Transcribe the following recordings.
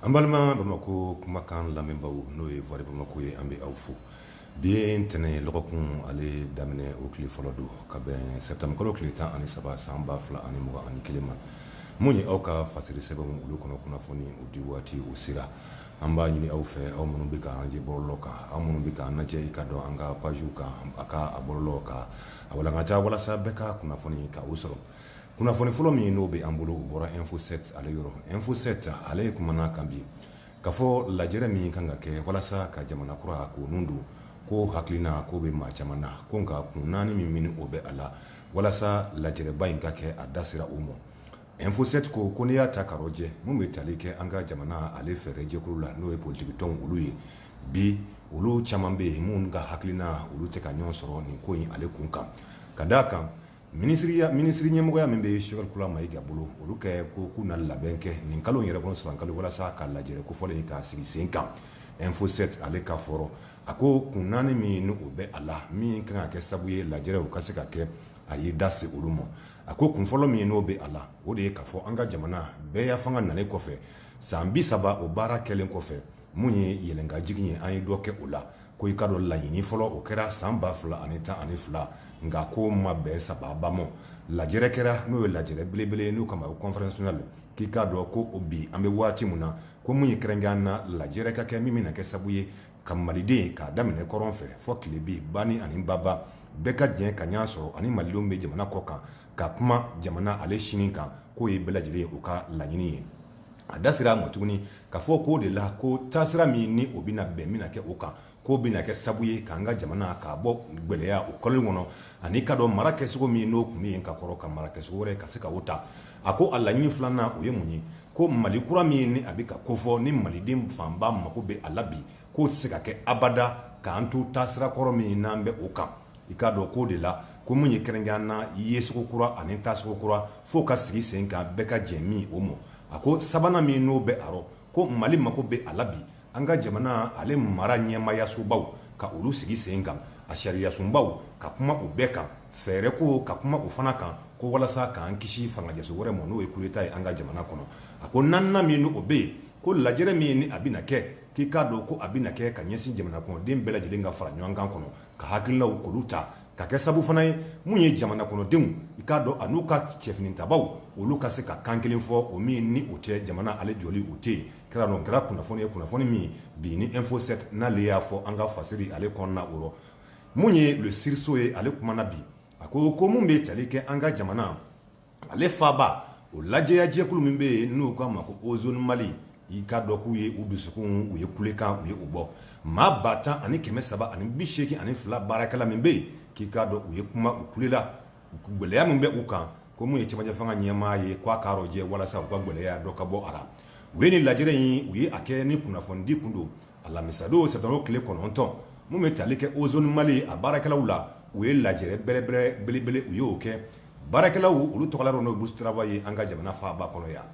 An balima bamakɔ kumakan lamɛnbaa n'o ye Voix de bamakɔ ye an bɛ aw fo bi ye ntɛnɛn ye dɔgɔkun ale daminɛ o tile fɔlɔ don ka bɛn sɛtanburukalo tile tan ani saba san ba fila ani mugan ani kelen ma minnu ye aw ka fasiri sɛbɛn olu kɔnɔ kunnafoni o di waati o sera an b'a ɲini aw fɛ aw minnu bɛ ka an ye bɔlɔlɔ kan aw minnu bɛ ka an cɛ ka dɔn an ka paziw kan a ka a bɔlɔ kan a wala ka ca walasa bɛɛ ka kunnafoni ka o sɔrɔ Kunnafoni fɔlɔ min n'o bɛ an bolo o bɔra info 7 ale yɔrɔ info 7 ale kumana min kan bi k'a fɔ lajɛ min kan ka kɛ walasa ka jamana kura ko ninnu don ko hakilina o bɛ maa caman na ko nka kun naani min n'o bɛ a la walasa lajɛba in ka kɛ a da sera u ma info 7 ko ko n'i y'a ta k'a rɔjɛ minnu bɛ tali kɛ an ka jamana ale fɛɛrɛjɛkulu la n'o ye politigidenw olu ye bi olu caman bɛ yen minnu ka hakilina olu tɛ ka ɲɔgɔn sɔrɔ nin ko in ale kun kan ka d' a kan Minisiriya minisiri ɲɛmɔgɔya min bɛ Sogɛli Kokala Mayiga bolo olu ka ko k'u na labɛn kɛ nin kalo in yɛrɛ kɔnɔ sɛtanburukalo walasa ka lajɛ kofɔlen in k'a sigi sen kan info 7 ale ka fɔ la a ko kun naani min n'o bɛ a la min kan ka kɛ sabu ye lajɛ o ka se ka kɛ a y'i da se olu ma a ko kun fɔlɔ min n'o bɛ a la o de ye k'a fɔ an ka jamana bɛɛya fanga nalen kɔfɛ san bi saba o baara kɛlen kɔfɛ min ye yɛlɛn ka jigin ye an ye dɔ kɛ o la ko i k'a dɔn laɲini fɔlɔ o kɛra san ba fila ani tan ani fila nka k'o ma bɛn saba ba lajɛ kɛra n'o ye lajɛ belebele ye n'u k'a ma o conférence nationale k'i k'a dɔn ko o bi an bɛ waati min na ko min ye kɛrɛnkɛrɛnya na lajɛ ka kɛ min min na kɛ sabu ye ka maliden k'a daminɛ kɔrɔn fɛ fo tilebin bani ani baba bɛɛ ka diɲɛ ka ɲɔgɔn sɔrɔ ani malidenw bɛ jamana kɔ kan ka kuma jamana ale sini kan k'o ye bɛɛ lajɛlen ye u ka laɲini ye a da sera a ma tuguni k'a fɔ k'o de la ko taasira min ni o bɛna bɛn bɛna kɛ o kan k'o bɛna kɛ sabu ye k'an ka jamana ka bɔ gɛlɛya o kɔlɔlɔ kɔnɔ an'i k'a dɔn mara kɛcogo min n'o tun bɛ yen ka kɔrɔ ka mara kɛcogo wɛrɛ ka se ka o ta a ko a laɲini filanan o ye mun ye ko mali kura min ni a bɛ ka kofɔ ni maliden fanba mago bɛ a la bi k'o tɛ se ka kɛ abada k'an to taasira kɔrɔ min n'an bɛ o kan i k'a dɔn k'o de la ko min ye kɛrɛnkɛrɛnya na yecogo kura ani tacogo kura fo ka sigi sen kan bɛɛ ka jɛn min o ma a ko sabanan min n'o bɛ a rɔ ko mali mako bɛ a la bi an ka jamana ale mara ɲɛmaayasobaw ka olu sigi sen kan a sariyasunbaw ka kuma u bɛɛ kan fɛɛrɛ ko ka kuma u fana kan ko walasa k'an kisi fangaso wɛrɛ ma n'o ye kudeta ye an ka jamana kɔnɔ a ko naaninan min n'o bɛ yen ko lajɛ min n'a bɛna kɛ k'i k'a dɔn ko a bɛna kɛ ka ɲɛsin jamana kɔnɔden bɛɛ lajɛlen ka fara ɲɔgɔn kan kɔnɔ ka hakililaw k'olu ta ka kɛ sabu fana ye minnu ye jamana kɔnɔdenw i k'a dɔn an'u ka cɛfini tabaw olu ka se ka kan kelen fɔ o min ni o tɛ jamana ale jɔli o tɛ yen kɛra dɔ kɛra kunnafoni ye kunnafoni min bi ni info 7 n'ale y'a fɔ an ka fasiri ale kɔnɔna o rɔ min ye Le Sursaut ye ale kumana bi a ko ko minnu bɛ tali kɛ an ka jamana ale faaba o lajɛya jɛkulu min bɛ yen n'u k'a ma ko Ozone Mali i k'a dɔn k'u ye u dusukun u ye kulekan u ye o bɔ maa ba tan ani kɛmɛ saba ani bi seeki ani fila baarakɛla min bɛ yen k'i k'a dɔn u ye kuma u kulela gɛlɛya min bɛ u kan ko min ye cɛmancɛ fanga ɲɛmaa ye ko a k'a rɔjɛ walasa u ka gɛlɛya dɔ ka bɔ a la u ye ni lajɛrɛ in u ye a kɛ ni kunnafonidi tun don Alamisadon sa tile kɔnɔntɔn minnu bɛ tali kɛ Ozone Mali ye a baarakɛlaw la u ye lajɛ bɛrɛbɛrɛ belebele u y'o kɛ baarakɛlaw olu tɔgɔ don n'u siraba ye an ka jamana faaba kɔnɔ yan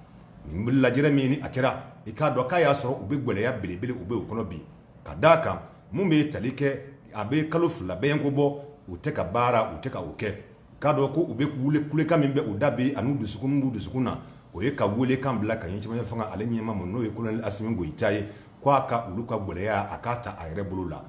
n bɛ lajɛ min a kɛra i k'a dɔn k'a y'a sɔrɔ u bɛ gɛlɛya belebele u bɛ u kɔnɔ bi ka d' a kan minnu bɛ ye tali kɛ a bɛ kalo fila bɛ ko bɔ u tɛ ka baara u tɛ ka u kɛ k'a dɔn ko u bɛ wuli kulekan min bɛ u da bi ani dusu dusukun na o ye ka weele kan bila ka ɲɛsin cɛmancɛ fanga ale ɲɛmaa ma n'o ye kolonɛli Asimi Goyita ye k' a ka olu ka gɛlɛya a k'a ta a yɛrɛ bolo la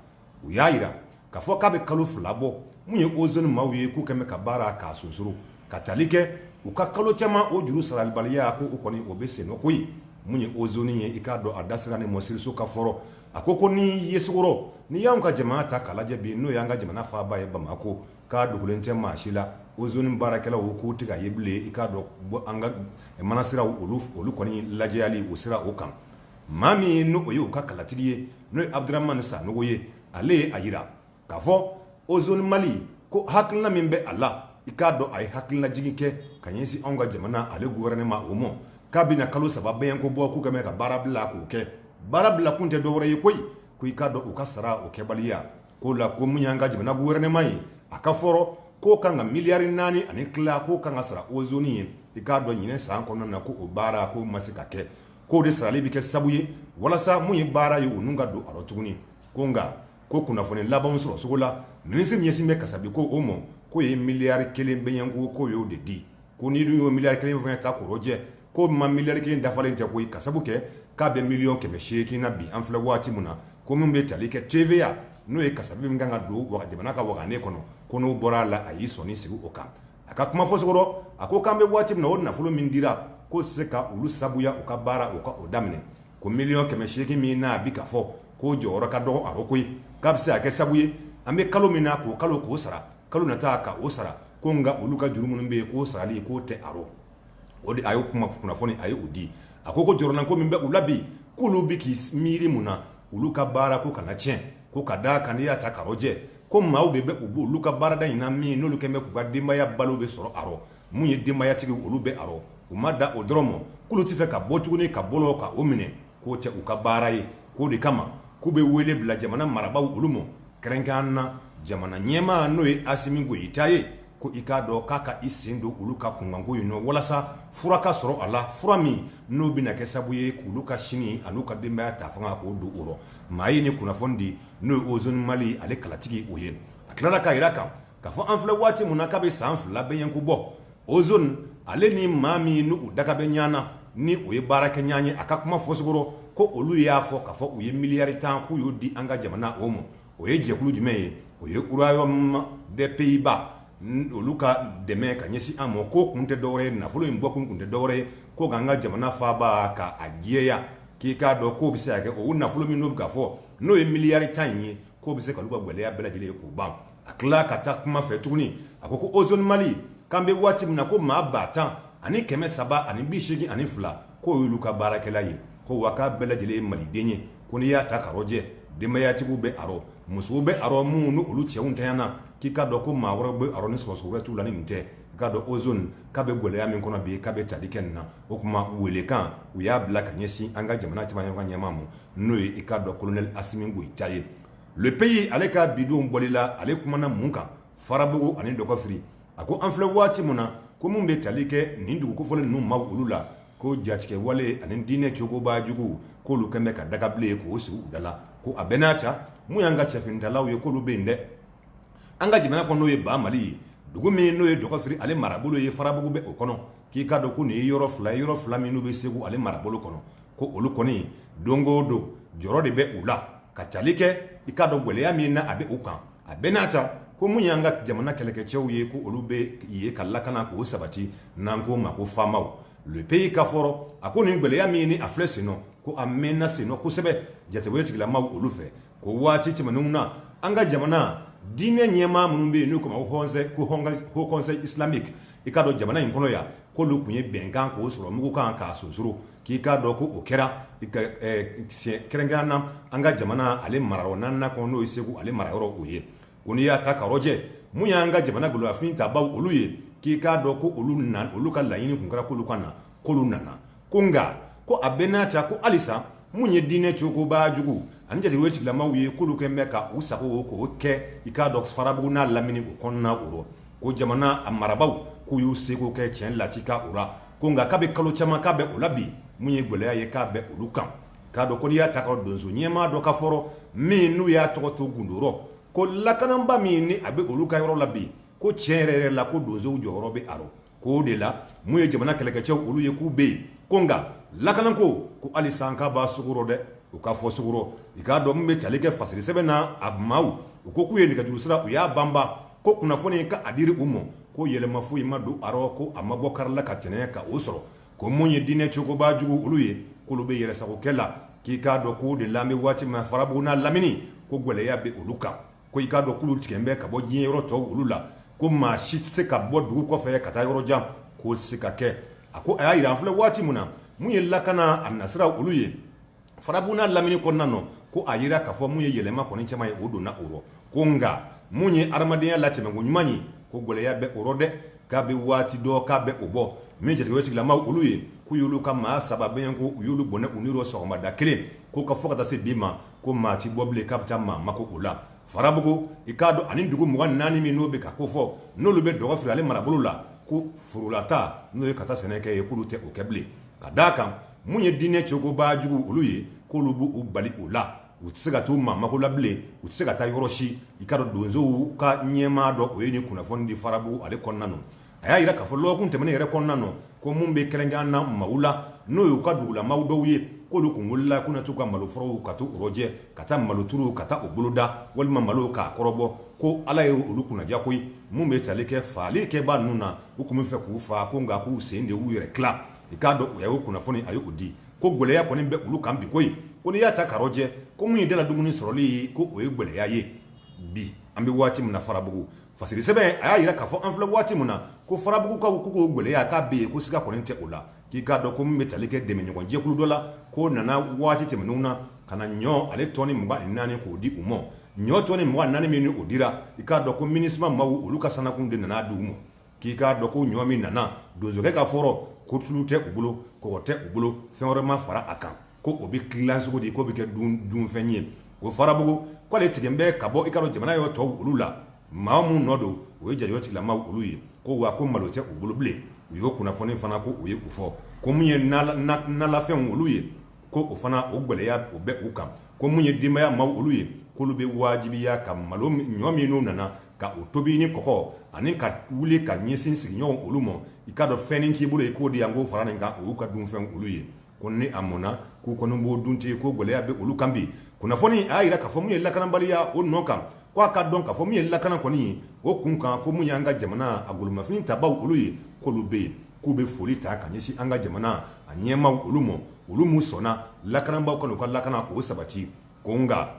u y'a jira ka fɔ k'a bɛ kalo fila bɔ min ye Ozone maaw ye k'u kɛlen bɛ ka baara k'a sonsoro ka tali kɛ u ka kalo caman o juru sarabaliya ko u kɔni o bɛ sen na koyi min ye Ozone ye i k'a dɔn a da sira ni minisiriso ka fɔ rɔ a ko ko ni yeso n'i y'an ka jamana ta k'a lajɛ bi n'o y'an ka jamana faaba ye bamakɔ k'a dogolen tɛ maa si la Ozone baarakɛlaw k'u tɛ ka ye bilen i k'a dɔn an ka manasira olu olu kɔni lajɛyali o sira o kan maa min ye n'o ye u ka kalatigi ye n'o ye Abudramani Sanogo ye ale ye a jira k'a fɔ Ozone Mali ko hakilina min bɛ a la i k'a dɔn a ye hakilinajigin kɛ ka ɲɛsin anw ka jamana ale gouvernement o ma k'a bɛna kalo saba bɛɲɛnko bɔ k'u kɛlen bɛ ka baara bila k'u ka baara bila kun tɛ dɔwɛrɛ ye koyi ko i k'a dɔn u ka sara o kɛbaliya k'o la ko min y'an ka jamana gouvernement ye a ka fɔ rɔ k'o ka kan ka miliyari naani ani tila k'o ka kan k'a sara Ozone ye i k'a dɔn ɲinɛ san kɔnɔna na ko o baara k'o ma se ka kɛ k'o de sarali bɛ kɛ sabu ye walasa min ye baara ye olu ka don a rɔ tuguni ko nka ko kunnafoni labanw sɔrɔ cogo la minisiri min ɲɛsin bɛ kasabi ko o mɔ k'o ye miliyari kelen bɛɲɛnko k'o y'o de di ko n'i dun y'o miliyari kelen fana ta k'o rɔjɛ ko miliyari kelen dafalen tɛ ko ka sabu kɛ k'a bɛ miliyɔn kɛmɛ seeki na bi an filɛ waati min na ko min bɛ tali kɛ TVA n'o ye kasabi min kan ka don jamana ka wa ne kɔnɔ ko n'o bɔra a la a y'i sɔnsigi o kan a ka kuma fɔcogo la ko k'an bɛ waati min o nafolo min dira ko se ka olu sabuya u ka baara u ka o daminɛ ko miliyɔn kɛmɛ seeki min n'a bi ka fɔ k'o jɔyɔrɔ ka dɔgɔ a ko koyi k'a bɛ se ka kɛ sabu ye an bɛ kalo min na k'o kalo k'o sara kalo nata k'o sara ko nka olu ka juru minnu bɛ yen k'o sarali k'o tɛ a o de a y'o kuma kunnafoni a y'o di a ko ko jɔrɔnanko min bɛ u la bi k'olu bɛ k'i miiri mun na olu ka baara k'o kana tiɲɛ ko ka da a kan n'i y'a ta k'a rɔjɛ ko maaw de bɛ olu ka baarada in na min n'olu kɛlen bɛ k'u ka denbaya balo bɛ sɔrɔ a rɔ minnu ye denbayatigiw olu bɛ a rɔ u ma da o dɔrɔn ma k'olu tɛ fɛ ka bɔ tuguni ka bɔ ka o minɛ k'o tɛ u ka baara ye k'o de kama k'u bɛ wele bila jamana marabagaw olu ma kɛrɛnkɛrɛn na jamana ɲɛmaa n'o ye Asimi Goyita ye ko i k'a dɔn k'a ka i sen don olu ka kunkanko in na walasa fura ka sɔrɔ a la fura min n'o bɛna kɛ sababu ye k'olu ka sini an'u ka denbaya ta fanga k'o don o rɔ maa ye nin kunnafoni di n'o ye Ozone Mali ale kalatigi o ye a tilala k'a jira kan K'a fɔ an filɛ waati min na k'a bi san fila bɛɲɛ ko bɔ ozone ale ni maa minnu daga bɛ ɲɔgɔn na ni o ye baarakɛɲɔgɔn ye a ka kuma fɔcogo rɔ ko olu y'a fɔ k'a fɔ u ye miliyari 10 k'u y'o di an ka jamana o ma. O ye jɛkulu jumɛn ye? O ye Royaume des Pays Bas olu ka dɛmɛ ka ɲɛsin an ma. Ko kun tɛ dɔ wɛrɛ ye nafolo in bɔkun kun tɛ dɔ wɛrɛ ye ko k'an ka jamana faaba ka a jɛya k'i k'a dɔn k'o bi se ka kɛ o nafolo min n'u bi k'a fɔ n'o ye miliyari 10 in ye k'o bi se ka olu ka gɛlɛya bɛɛ lajɛlen k'u ban. a tila ka taa kuma fɛ tuguni a ko ko ozoni mali k'an bɛ waati min na ko maa ba tan ani kɛmɛ saba ani bi segin ani fila k'o y'olu ka baarakɛla ye ko wa k'a bɛɛ lajɛlen ye maliden ye ko n'i y'a ta k'a rɔjɛ denbayatigiw bɛ a rɔ musow bɛ a rɔ minnu ni olu cɛw tɛ na k'i k'a dɔn ko maa wɛrɛ bɛ a rɔ ni sɔrɔ wɛrɛ t'u la ni nin tɛ i k'a dɔn ozoni k'a bɛ gɛlɛya min kɔnɔ bi k'a bɛ tali kɛ nin na o tuma welekan u y'a bila ka ɲɛsin an ka jamana ɲɛmaa ma n'o ye i k'a dɔn kolonɛli asimi goyita ye Le Pays ale ka bi don bɔli la ale kumana mun kan farabugu ani dɔgɔfiri a ko an filɛ waati min na ko minnu bɛ tali kɛ nin dugu kofɔlen ninnu maaw olu la ko jatigɛwale ani diinɛ cogoba juguw k'olu kɛlen bɛ ka dagabilen ye k'o sigi u da la ko a bɛɛ n'a ta minnu y'an ka cɛfinitalaw ye k'olu bɛ yen dɛ an ka jamana kɔnɔ n'o ye ba mali ye dugu min n'o ye dɔgɔfiri ale marabolo ye farabugu bɛ o kɔnɔ k'i k'a dɔn ko nin ye yɔrɔ fila yɔrɔ fila minnu bɛ segu ale marabolo kɔnɔ ko olu kɔni don o don jɔrɔ de bɛ u la ka tali kɛ i k'a dɔn gɛlɛya min na a bɛ u kan a bɛɛ n'a ta ko minnu y'an ka jamana kɛlɛkɛcɛw ye ko olu bɛ yen ka lakana k'o sabati n'an k'o ma ko famaw Le Pays ka fɔ rɔ a ko nin gɛlɛya min ye nin a filɛ sen na ko a mɛnna sen na kosɛbɛ jatigɛwale tigilamaw olu fɛ ko waati tɛmɛnenw na an ka jamana diinɛ ɲɛmaa minnu bɛ yen n'u k'o ma ko Haut Conseil Islamique i k'a dɔn jamana in kɔnɔ yan k'olu tun ye bɛnkan k'o sɔrɔ mugukan ka sosouru k'i k'a dɔn ko o kɛra kɛrɛnkɛrɛn na an ka jamana ale marayɔrɔ naaninan kɔnɔ n'o ye segu ale marayɔrɔ o ye ko n'i y'a ta k'a rɔjɛ mun y'an ka jamana golofin tabaw olu ye k'i k'a dɔn ko olu olu ka laɲini tun kɛra k'olu ka na kolo nana ko nka ko a bɛɛ n'a ta ko halisa minnu ye diinɛ cogoba jugu ani jatigɛwale tigilamaw ye k'olu kɛlen bɛ ka u sago o k'o kɛ i k'a dɔn farabugu n'a laminiw kɔnɔna o ko jamana a marabagaw k'u y'u seko kɛ cɛn la ka u la ko nka k'a bɛ kalo caman k'a bɛ u la bi min ye gɛlɛya ye k'a bɛ olu kan k'a dɔn k'olu y'a ta donso ɲɛmaa dɔ ka fɔ rɔ min n'u y'a tɔgɔ to gundo rɔ ko lakanaba min ni a bɛ olu ka yɔrɔ la bi ko cɛn yɛrɛ yɛrɛ la ko donsow jɔyɔrɔ bɛ a k'o de la mun ye jamana kɛlɛkɛcɛ olu ye k'u bɛ yen ko nka lakanako ko hali sa ko b'a sogo rɔ dɛ u k'a fɔ sogo rɔ i k'a dɔn min bɛ tali kɛ fasiri sɛbɛn na a maaw ko k'u ye nɛgɛjuru sira u y'a banba ko kunnafoni ka a diri u ma ko yɛlɛma foyi ma don a rɔ ko a ma bɔ kari la ka tɛnɛn ka o sɔrɔ ko mun ye diinɛ cogoba jugu olu ye k'olu bɛ yɛrɛsagokɛ la k'i k'a dɔn k'o de la an bɛ waati min Farabugu n'a lamini ko gɛlɛya bɛ olu kan Ko i k'a dɔn k'olu tigɛlen bɛ ka bɔ diɲɛ yɔrɔ tɔ olu la ko maa si tɛ se ka bɔ dugu kɔfɛ ka taa yɔrɔ jan k'o se ka kɛ a ko a y'a jira an filɛ waati min na mun ye lakana a nasira olu ye Farabugu n'a lamini kɔnɔna nɔ ko a jira k'a fɔ mun ye yɛlɛma kɔni caman ye o donna o rɔ ko nka mun ye hadamadenya latɛmɛko ɲuman ye ko gɛlɛya bɛ o rɔ dɛ k'a bɛ waati dɔ k'a bɛ o bɔ min jatigɛ tigilama olu ye k'u y'olu ka maa saba bɛɛ ko u y'olu bɔnɛ u ni na sɔgɔmada kelen k'u ka fɔ ka taa se bi ma ko maa tɛ bɔ bilen k'a bɛ taa maa mako o la farabugu i k'a dɔn ani dugu mugan ni naani minnu bɛ ka kofɔ n'olu bɛ Dɔgɔfiri ale marabolo la ko foro la taa n'o ye ka taa sɛnɛkɛ ye k'olu tɛ o kɛ bilen ka d'a kan mun ye diinɛ cogoba jugu olu ye k'olu b' u bali u la u tɛ se ka taa maa mako la bilen u tɛ se ka taa yɔrɔ si i k'a dɔn donsow ka ɲɛmaa dɔ o ye nin kunnafoni di Farabugu ale kɔnɔna na a y'a jira k'a fɔ lɔgɔkun tɛmɛnen yɛrɛ kɔnɔna na ko minnu bɛ kɛrɛnkɛrɛnnen na Mali la n'o y'u ka dugulamaw dɔw ye k'olu tun wulila k'u na t'u ka maloforow ka t'u rɔjɛ ka taa maloturuw ka taa u boloda walima malow k'a kɔrɔbɔ ko Ala ye olu kunnadiya koyi minnu bɛ tali kɛ fagali kɛbaa ninnu na u tun b'a fɛ k'u faga ko nka k'u sen de y'u yɛrɛ tila i k'a dɔn u y'o kunnafoni a y'o di ko gɛlɛya kɔni bɛ olu kan bi koyi ko n'i y'a ta ka rɔjɛ ko min ye daladumuni sɔrɔli ye ko o ye gɛlɛya ye bi an bɛ waati min na Farabugu Fasiri sɛbɛn a y'a jira k'a fɔ an filɛ waati min na ko farabugukaw k'o gɛlɛya k'a bɛ yen ko siga kɔni tɛ o la k'i k'a dɔn ko min bɛ tali kɛ dɛmɛɲɔgɔnjɛkulu dɔ la ko nana waati tɛmɛnenw na ka na ɲɔ ale tɔni mugan ni naani k'o di u ma ɲɔ tɔni mugan ni naani min o dira i k'a dɔn ko minisima maaw olu ka sannakurun de nana d'u ma k'i k'a dɔn ko ɲɔ min nana donsokɛ ka fɔ rɔ ko tulu tɛ u bolo kɔgɔ tɛ u bolo fɛn wɛrɛ ma fara a kan ko o bɛ gilan cogo di k'o bɛ kɛ dunfɛn ye o farabugu ko ale tigɛlen bɛ ka bɔ i k'a dɔn jamana yɔrɔ tɔw olu la maa minnu nɔ don o ye jatigɛ tigilama olu ye ko wa ko malo tɛ u bolo bilen u y'o kunnafoni fana ko u ye u fɔ ko min ye nalafɛn olu ye ko o fana o gɛlɛya o bɛ u kan ko min ye denbaya maa olu ye k'olu bɛ wajibiya ka malo ɲɔ minnu nana ka u tobi ni kɔgɔ ani ka wuli ka ɲɛsin sigiɲɔgɔn olu ma i k'a dɔn fɛn k'i bolo ye k'o de yan ko fara nin kan u ka dunfɛn olu ye Ko ni a mɔnna k'u kɔni b'o dun ten ko gɛlɛya bɛ olu kan bi. Kunnafoni a y'a jira k'a fɔ min ye lakanabaliya o nɔ kan, ko a ka dɔn k'a fɔ min ye lakana kɔni ye o kun kan, ko min y'an ka jamana a golomafini tabaaw olu ye, k'olu bɛ yen, k'u bɛ foli ta ka ɲɛsin an ka jamana a ɲɛmaaw olu ma, olu min sɔnna lakanabaaw ka n'u ka lakanako sabati. ko nka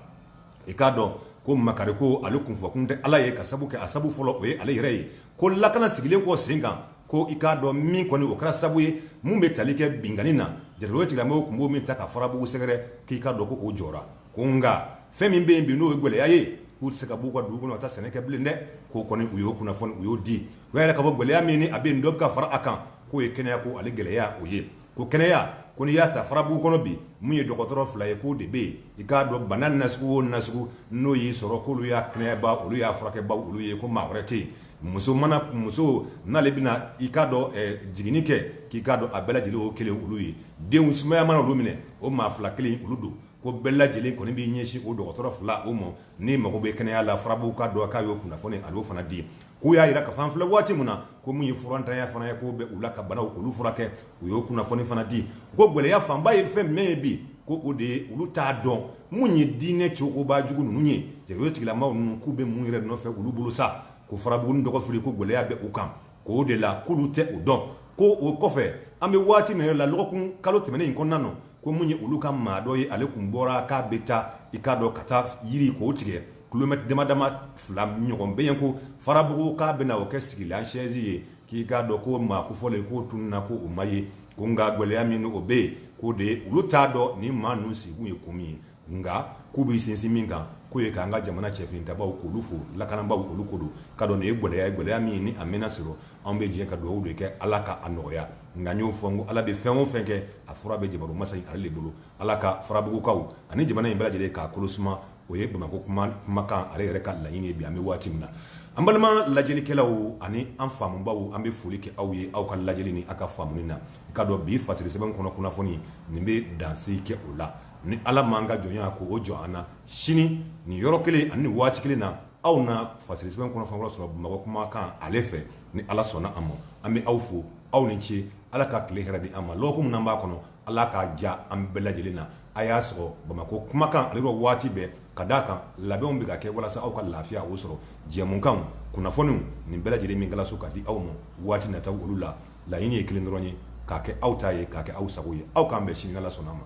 i k'a dɔn ko makari ko ale tun fɔ kun tɛ ala ye ka sabu kɛ a sababu fɔlɔ o ye ale yɛrɛ ye ko lakana sigilen kɔ sen kan ko i k'a dɔn min kɔni o kɛra sababu ye minnu bɛ tali kɛ binkanni na jatigɛ maaw tun b'o min ta ka farabugu sɛgɛrɛ k'i k'a dɔn ko o jɔra ko nka fɛn min bɛ yen bi n'o ye gɛlɛya ye k'u tɛ se ka b'u ka dugu kɔnɔ ka taa sɛnɛ kɛ bilen dɛ k'o kɔni u y'o kunnafoni u y'o di o yɛrɛ ka bɔ gɛlɛya min a bɛ dɔ ka fara a kan k'o ye kɛnɛya ko ale gɛlɛya o ye ko kɛnɛya ko n'i y'a ta farabugu kɔnɔ bi min ye dɔgɔtɔrɔ fila ye k'o de bɛ yen i k'a dɔn bana nasugu o nasugu n'o y'i sɔrɔ k'olu y'a kɛnɛyaba olu y'a furakɛba olu ye ko maa wɛrɛ tɛ yen muso mana muso n'ale bɛna i k'a dɔn jiginni kɛ k'i k'a dɔn a bɛɛ lajɛlen o kelen olu ye denw sumaya mana olu minɛ o maa fila kelen olu don ko bɛɛ lajɛlen kɔni b'i ɲɛsin o dɔgɔtɔrɔ fila o ma ni mago bɛ kɛnɛya la farabugu k'a dɔn k'a ye kunnafoni ale o fana di ye K'u y'a jira k'an filɛ waati min na ko min ye furantanya fana ye k'o bɛ u la ka banaw olu furakɛ u y'o kunnafoni fana di ko gɛlɛya fanba ye fɛn min ye bi ko o de ye olu t'a dɔn minnu ye diinɛ cɛba jugu ninnu ye jatigɛlama ninnu k'u bɛ mun yɛrɛ nɔfɛ olu bolo sa ko farabugu dɔgɔfiri ko gɛlɛya bɛ u kan k'o de la k'olu tɛ o dɔn ko o kɔfɛ an bɛ waati min la dɔgɔkun kalo tɛmɛnen in kɔnɔna don ko min ye olu ka maa dɔ ye ale tun bɔra k'a bɛ taa i k'a dɔn ka taa yiri k'o tigɛ kilomɛtɛrɛ dama dama fila ɲɔgɔn bɛ yen ko farabugu k'a bɛna o kɛ sigilansen ye k'i k'a dɔn ko maa kofɔlen k'o tununna ko o ma ye ko nka gɛlɛya min o bɛ yen k'o de ye olu t'a dɔn ni maa ninnu sigi ye ko min ye nka k'u bɛ sinsin min kan k'o ye k'an ka jamana cɛfin ta k'olu fo lakanabaw olu ko don ka dɔn nin ye gɛlɛya gɛlɛya min ni a bɛna sɔrɔ anw bɛ jɛ ka dugawu de kɛ ala ka a nɔgɔya nka y'o fɔ ko ala bɛ fɛn o fɛn kɛ a fura bɛ jamana masa ale de bolo ala ka farabugukaw ani jamana in bɛɛ lajɛlen k'a kolo suma o ye bamakɔ kumakan ale yɛrɛ ka laɲini ye bi an bɛ waati min na an balima lajɛlikɛlaw ani an faamubaw an bɛ foli kɛ aw ye aw ka lajɛli ni aw ka faamuni na i k'a dɔn bi fasiri sɛbɛn kɔnɔ kunnafoni nin bɛ dansigi kɛ o la ni ala m'an ka jɔnya ko o jɔ an na sini nin yɔrɔ kelen ani waati kelen na aw na fasiri sɛbɛn kɔnɔ sɔrɔ bamakɔ kumakan ale fɛ ni ala sɔnna a ma an bɛ aw fo aw ni ce ala ka tile hɛrɛ di an ma lɔk minnu b'a kɔnɔ Ala k'a diya an bɛɛ lajɛlen na a y'a sɔrɔ bamakɔ kumakan ale rɔ waati bɛɛ ka da a kan labɛnw bɛ ka kɛ walasa aw ka lafiya o sɔrɔ jɛmukan kunnafoni nin bɛɛ lajɛlen min walasa ka di aw ma waati nataw olu la laɲini ye kelen dɔrɔn ye k'a kɛ aw ta ye k'a kɛ aw sago ye aw k'an bɛn sini n'ala sɔnna a ma